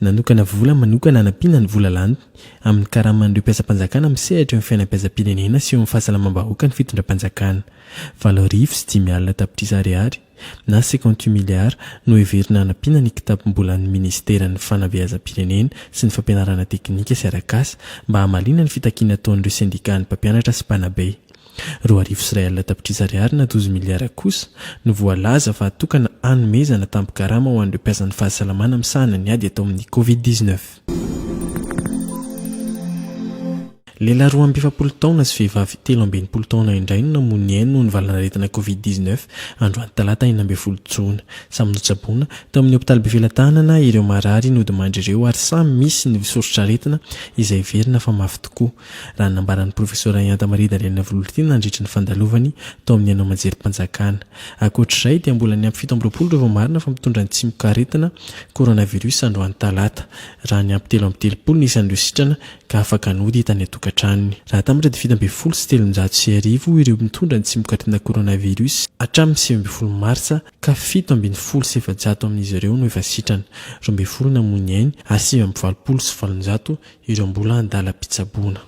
Nanokana vola manokana hanampiana ny vola laniny amin'ny karaman'ireo mpiasam-panjakana amin'ny sehatry ny fiainam-piasam-pirenena sy eo amin'ny fahasalamam-bahoaka ny fitondram-panjakana. Valo arivo sy dimy alina tapitrisa ariary, na cinquante huit milliards, no heverina hanampiana ny kitapom-bolan'ny minisiteran'ny Fanabeazam-pirenena sy ny Fampianarana teknika sy arak'asa mba hamaliana ny fitakiana ataon'ireo sendikàn'ny mpampianatra sy mpanabe. Roa arivo sy iray alina tapitrisa ariary na dozy miliara kosa no voalaza fa hatokana hanomezana tampo-karama ho an'ireo mpiasan'ny fahasalamana misahana ny ady atao amin'ny Covid dix neuf. Lehilahy roa amby efapolo taona sy vehivavy telo amby enimpolo taona indray no namoy ny ainy noho ny valanaretina Covid dix neuf, androany talata enina ambin'ny folo jona. Samy notsaboina tao amin'ny hopitaly Befelatanana ireo marary nodimandry ireo ary samy misy ny soritr'aretina izay heverina fa mafy tokoa. raha ny nambaran'ny Profesora Ianta Maria Daliana Vololitiana nandritry ny fandalovany tao amin'ny haino aman-jerim-panjakana. Ankoatra izay dia mbola ny ampy fito amby roapolo ireo vao marina fa mitondra ny tsimok'aretina Coronavirus androany talata, raha ny ampy telo amby telopolo ny isan'ireo sitrana ka afaka nody tany an-tokantranony. Raha hatambatra dia fito ambin'ny folo sy telonjato sy arivo ireo mitondra ny tsimok'aretina Coronavirus hatramin'ny sivy ambin'ny folo martsa ka fito ambin'ny folo sy efajato amin'izy ireo no efa sitrana, roa ambin'ny folo namoy ny ainy ary sivy amby valopolo sy valonjato Ireo mbola an-dalam-pitsaboana.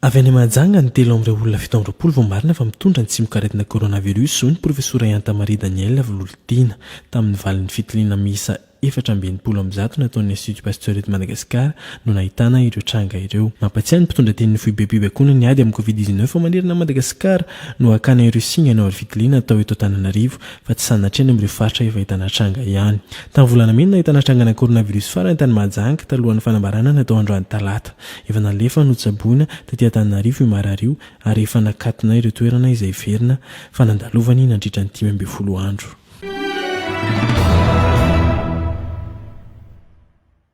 Avy any Mahajanga, ny telo amin'ireo olona fito amby roapolo vao marina fa mitondra ny tsimokaretina coronavirus, hoy ny profesora Yanta Marie Danielle Vololitiana, tamin'ny valin'ny fitiliana miisa efatra amby enimpolo amby zato nataon'ny Institut Pasteur eto Madagasikara no nahitana ireo tranga ireo. Mampatsiahy ny mpitondra tenin'ny foibem-pibaikoana ny ady amin'ny Covid dix-neuf manerana an'i Madagasikara no hakana ireo singa hanao aro-fitiliana atao eto Antananarivo fa tsy sanatria any amin'ireo faritra efa ahitana tranga ihany. Tamin'ny volana May no nahitana trangana coronavirus farany tany Mahajanga talohan'ny fanambarana natao androany talata. Efa nalefa notsaboina taty Antananarivo io marary io ary efa nakatona ireo toerana izay heverina fa nandalovany nandritra ny dimy ambin'ny folo andro.